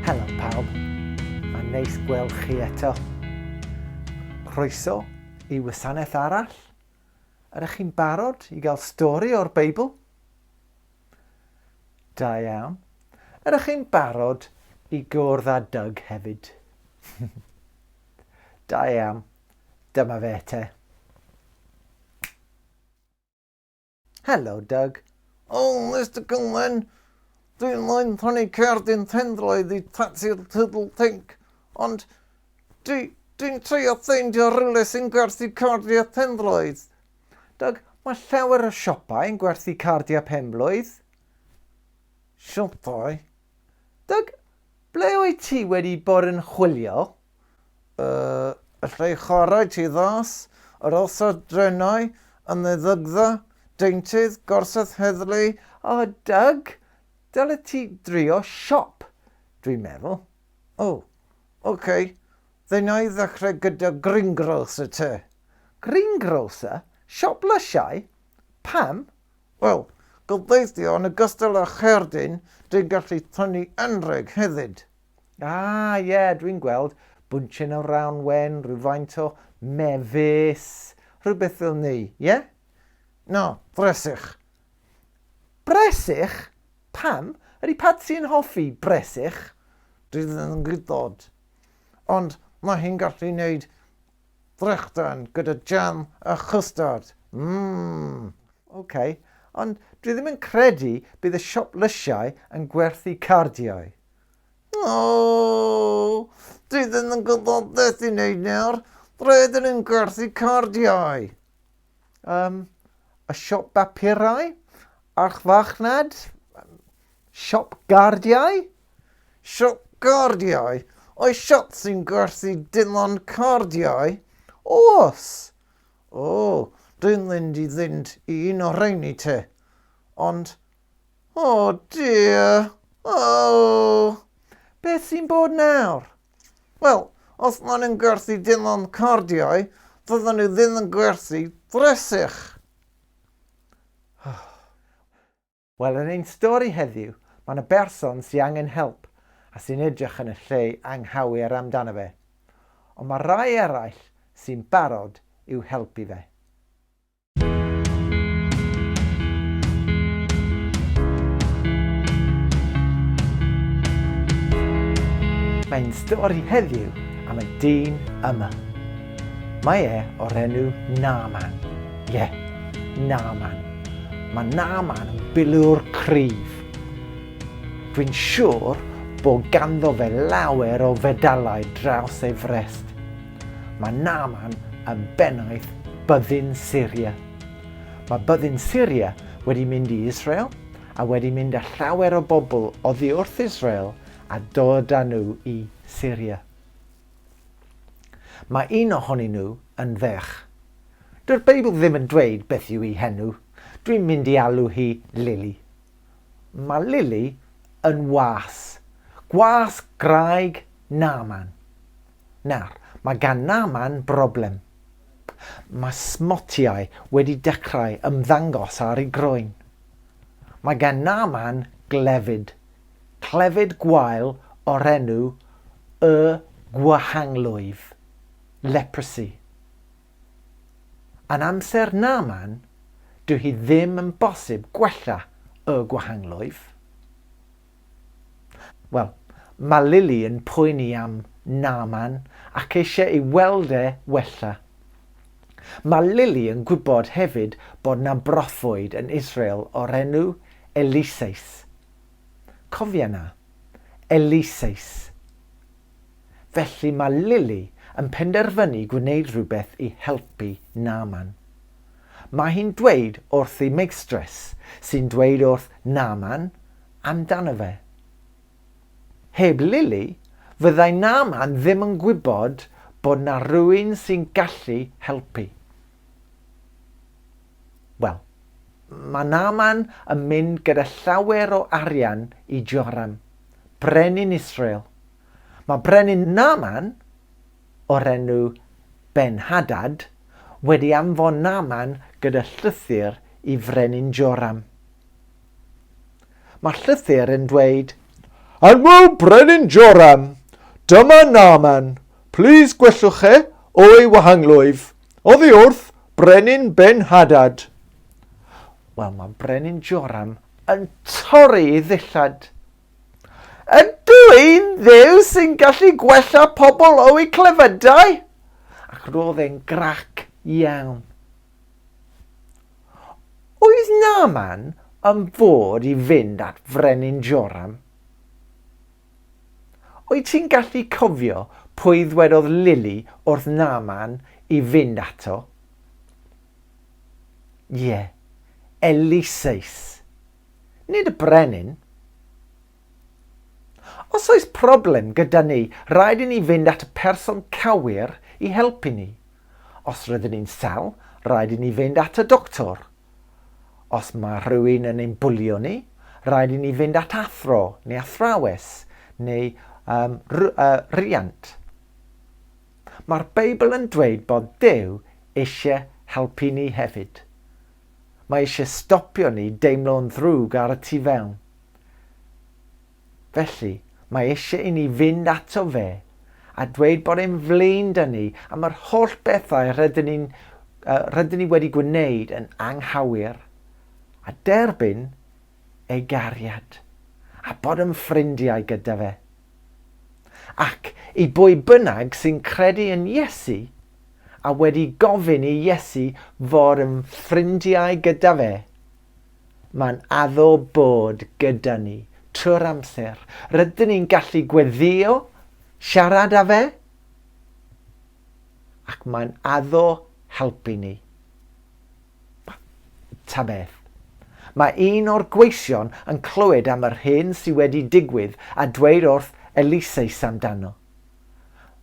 Helo pawb, mae'n neis gweld chi eto. Croeso i wasanaeth arall. Ydych chi'n barod i gael stori o'r Beibl? Da iawn. Ydych chi'n barod i gwrdd â Doug hefyd? da iawn. Dyma fe te. Helo, Doug. O, Mister Cullen, dwi'n moyn prynu cerdyn pendroedd i tati'r Tiddle Tink, ond dwi, dwi'n treio ffeindio rhywle sy'n gwerthu cardiau penblwydd. Doug, mae llawer o siopau yn gwerthu cardiau penblwydd. Siopau? Doug, ble wyt ti wedi bod yn chwilio? Yy, alla i chwarae ti ddos yr orsedd drenau yn ddiddygdda, deintydd, gorsedd heddlu. O, Doug, dylet ti drio siop, dwi'n meddwl. O, oh, ok, then i ddechrau gyda greengrocer te. Greengrocer? Siop lysiau? Pam? Wel, gobeithio yn ogystal â cherdyn, dwi'n gallu tynnu anrheg hefyd. Ah, ie, yeah, dwi'n gweld. Bwncen o rawn wen, rhywfaint o mefus, rhywbeth fel ni, ie? Yeah? No, bresych. Bresych? Pam? Ydy Patsy yn hoffi bresych? Dwi ddim yn gwybod. Ond mae hi'n gallu wneud drechdan gyda jam a chustard. Mmm. Oce, okay. ond dwi ddim yn credu bydd y siop lysiau yn gwerthu cardiau. Aww! Dwi ddim yn gwybod beth i wneud nawr. Roedd yn yn gwerthu cardiau. Um, y siop bapurau? A'ch fachnad? Siop gardiau? Siop gardiau? Oes siop sy'n gwerthu dim ond cardiau? Oes! O, dwi'n mynd i fynd i un o rheini te. Ond Oh dear! Oh! Beth sy'n bod nawr? Wel, os maen nhw'n gwerthu dim ond cardiau, fyddan nhw ddim yn gwerthu dressych. Wel, yn ein stori heddiw, mae yna berson sy'n angen help a sy'n edrych yn y lle anghywir amdano fe. Ond mae rhai eraill sy'n barod i'w helpu fe. Mae'n stori heddiw am y dyn yma. Mae e o'r enw Naaman. Ie, yeah, Naaman. Mae Naaman yn bilwr cryf. Dwi'n siŵr bod ganddo fe lawer o fedalau draws ei frest. Mae Naaman yn bennaeth byddin Syria. Mae byddin Syria wedi mynd i Israel a wedi mynd â llawer o bobl oddi wrth Israel a dod â nhw i Syria. Mae un ohonyn nhw yn ferch. Dyw'r Beibl ddim yn dweud beth yw ei henw. Dwi'n mynd i alw hi Lili. Mae Lili yn was. Gwas graig Naaman. Nawr, mae gan na man broblem. Mae smotiau wedi dechrau ymddangos ar ei groen. Mae gan na man glefyd. Clefyd gwael o'r enw Y Gwahanglwyf, Leprosy. Yn amser na man, dyw hi ddim yn bosib gwella Y Gwahanglwyf. Wel, mae Lily yn poeni am Naaman ac eisiau ei weld e wella. Mae Lily yn gwybod hefyd bod na broffwyd yn Israel o'r enw Eliseus. Cofia na. Eliseus. Felly mae Lili yn penderfynu gwneud rhywbeth i helpu Naaman. Mae hi'n dweud wrth ei meistres, sy'n dweud wrth Naaman amdano fe. Heb Lili, fyddai Naaman ddim yn gwybod bod na rwy'n sy'n gallu helpu. Wel, mae Naaman yn mynd gyda llawer o arian i Joram, brenin Israel. Mae brenin Naaman, o'r enw Ben-Hadad, wedi anfon Naaman gyda llythyr i frenin Joram. Mae llythyr yn dweud, Anwo brenin Joram, dyma Naaman, plîs gwellwch e o'i wahanglwyf. Oddi wrth Brenin Ben-Hadad. Wel, mae Brenin Joram yn torri ei ddillad. Ydw i'n ddew sy'n gallu gwella pobl o'u clefydau? Ac roedd e'n grac iawn. Oedd Naman yn fod i fynd at Frenin Joram? Wyt ti'n gallu cofio pwy ddwedodd Lili wrth Naaman i fynd ato? Ie, Eliseus. Nid y brenin. Os oes problem gyda ni, rhaid i ni fynd at y person cywir i helpu ni. Os rydyn ni'n sâl, rhaid i ni fynd at y doctor. Os mae rhywun yn ein bwlio ni, rhaid i ni fynd at athro neu athrawes neu um, riant. Mae'r Beibl yn dweud bod Duw eisiau helpu ni hefyd. Mae eisiau stopio ni deimlo'n ddrwg ar y tu fewn. Felly, mae eisiau i ni fynd ato fe a dweud bod e'n flin 'da ni am yr holl bethau rydyn ni, uh, rydyn ni wedi gwneud yn anghywir, a derbyn ei gariad, a bod yn ffrindiau gyda fe. Ac i bwy bynnag sy'n credu yn Iesu a wedi gofyn i Iesu fod yn ffrindiau gyda fe, Mae'n addo bod gyda ni trwy'r amser. Rydyn ni'n gallu gweddïo, siarad â fe, ac mae'n addo helpu ni. Ta beth. Mae un o'r gweision yn clywed am yr hyn sydd wedi digwydd a dweud wrth Eliseus amdano.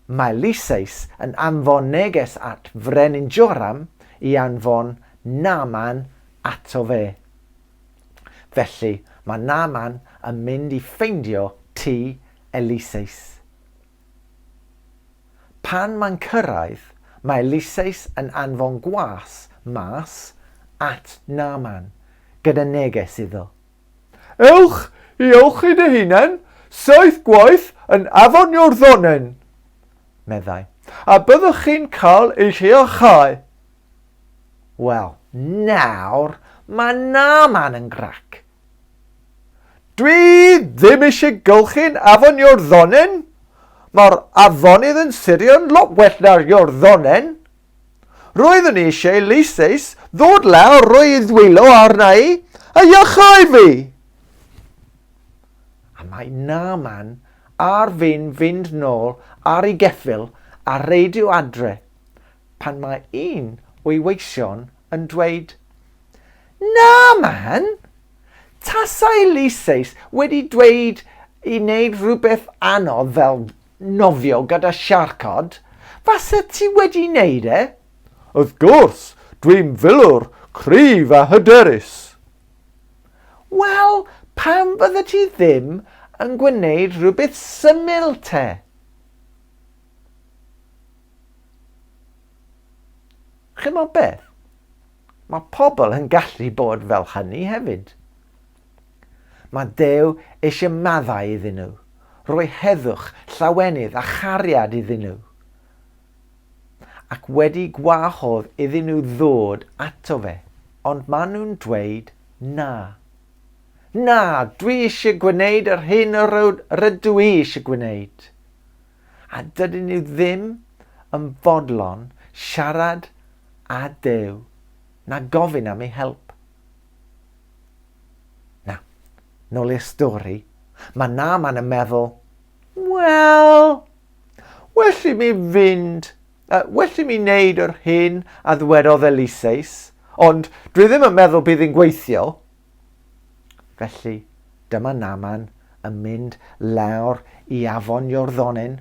Mae Lysias yn anfon neges at Frenin Joram i anfon Naaman ato fe. Felly, mae Naaman yn mynd i ffeindio tŷ Eliseus. Pan mae'n cyrraedd, mae Eliseus yn anfon gwas mas at Naaman gyda neges iddo. Ewch i ewch hyd y hunen, saith gwaith yn afonio'r ddonen, meddai, a byddwch chi'n cael eich iachau. Wel, nawr, mae na man yn grac. Dwi ddim eisiau gylchu'n afonio'r ddonen, mae'r afonydd yn sirio'n lot well na'r iorddonen, Roeddwn i eisiau leises ddod lawr, rhoi ei ddwylo arna i, a iachau fi! A mae Naaman ar fin fynd nôl ar ei geffyl a reidio adre, pan mae un o'i weision yn dweud, Naaman! Tasai Lyseis wedi dweud i wneud rhywbeth anodd fel nofio gyda siarcod? Faset ti wedi neud e? Wrth gwrs, dwi'n filwr cryf a hyderus! Wel, pam fyddet ti ddim yn gwneud rhywbeth syml te? Chimod beth? Mae pobl yn gallu bod fel hynny hefyd. Mae Duw eisiau maddau iddyn nhw, rhoi heddwch, llawenydd a chariad iddyn nhw. Ac wedi gwahodd iddyn nhw ddod ato fe, ond maen nhw'n dweud na. Na, dwi eisiau gwneud yr hyn yr rydw i eisiau gwneud. A dydyn nhw ddim yn fodlon siarad â Duw na gofyn am ei help. Na. Nôl i'r stori. Mae Naaman yn meddwl, Wel, well i mi fynd, uh, well i mi wneud yr hyn a ddwedodd Eliseus, ond dwi ddim yn meddwl bydd yn gweithio. Felly, dyma Naaman yn mynd lawr i afon Iorddonen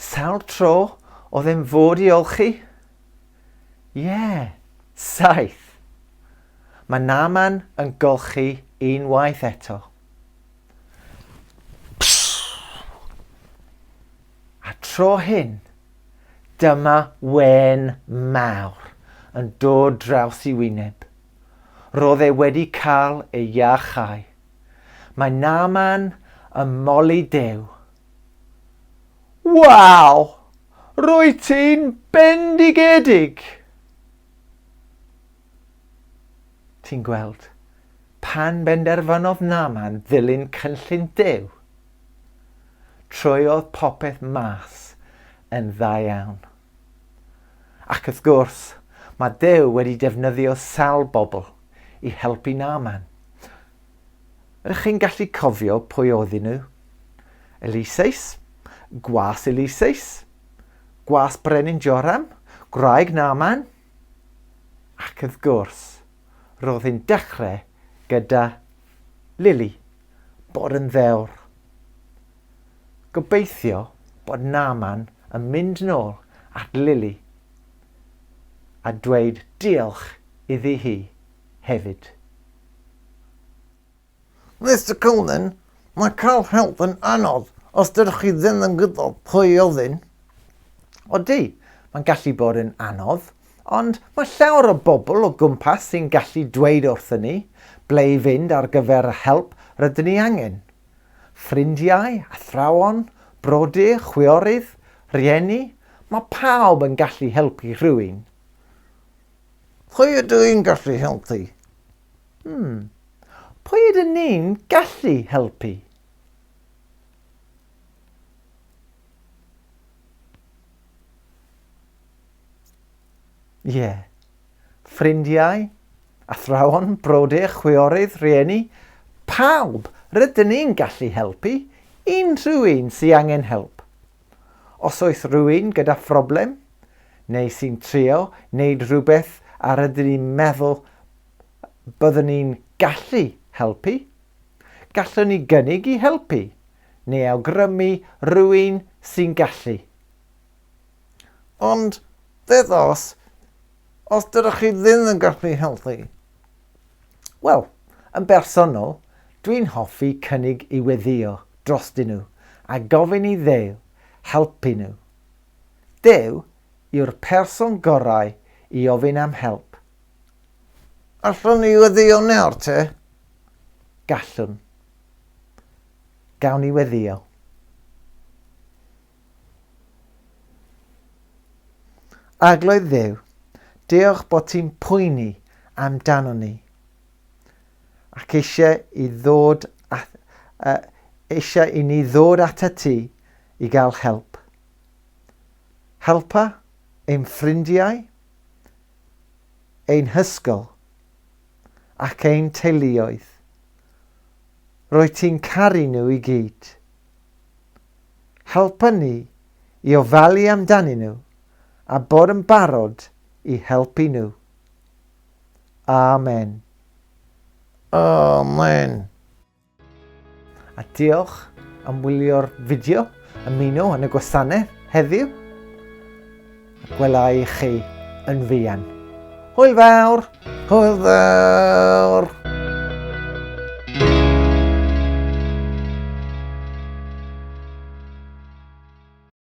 Sawl tro oedd e'n fod i olchi? Ie, saith. Mae Naman yn golchi unwaith eto. A tro hyn, dyma wen mawr yn dod draws i wyneb. Roedd e wedi cael ei iachau. Mae Naman yn moli Dew Waw! Rwyt ti'n bendigedig! Ti'n gweld, pan benderfynodd Naman ddilyn cynllun Duw, trwyodd popeth mas yn dda iawn. Ac wrth gwrs, mae Duw wedi defnyddio sawl bobl i helpu Naaman. Ydych chi'n gallu cofio pwy oedden nhw? Eliseus, gwas Eliseus, gwas Brenin Joram, gwraig Naaman. Ac wrth gwrs, roedd hi'n dechrau gyda Lily, bod yn ddewr. Gobeithio bod Naaman yn mynd nôl at Lily a dweud diolch iddi hi hefyd. Mister Cullen, mae cael help yn anodd os dydych chi ddim yn gwybod pwy i ofyn. Odi, mae'n gallu bod yn anodd, ond mae llawer o bobl o gwmpas sy'n gallu dweud wrthyn ni ble i fynd ar gyfer y help rydyn ni angen. Ffrindiau, athrawon, brodyr, chwiorydd, rhieni, mae pawb yn gallu helpu rhywun. Pwy ydw i'n gallu helpu? Hmm. Pwy ydyn ni'n gallu helpu? Ie. Yeah. ffrindiau, athrawon, brodyr, chwiorydd, rhieni, pawb, rydyn ni'n gallu helpu unrhyw un sy angen help. Os oes rhywun gyda phroblem, neu sy'n trio wneud rhywbeth a rydyn ni'n meddwl byddwn ni'n gallu helpu, gallwn ni gynnig i helpu neu awgrymu rhywun sy'n gallu. Ond beth os, os dydych chi ddim yn gallu helpu? Wel, yn bersonol, dwi'n hoffi cynnig i weddïo drostyn nhw a gofyn i Dduw helpu nhw. Duw yw'r person gorau i ofyn am help. Allwn ni weddïo nawr te? Gallwn. Gawn ni weddïo. Arglwydd Dduw, diolch bod ti'n poeni amdano ni ac eisiau i, ddod at, uh, eisiau i ni ddod atat ti i gael help. Helpa ein ffrindiau, ein hysgol ac ein teuluoedd. Rwy ti'n caru nhw i gyd. Helpa ni i ofalu amdanyn nhw a bod yn barod i helpu nhw. Amen. Amen. A diolch am wylio'r fideo, ymuno yn y gwasanaeth heddiw. Gwela i chi yn fuan. Hwyl fawr! Hwyl fawr!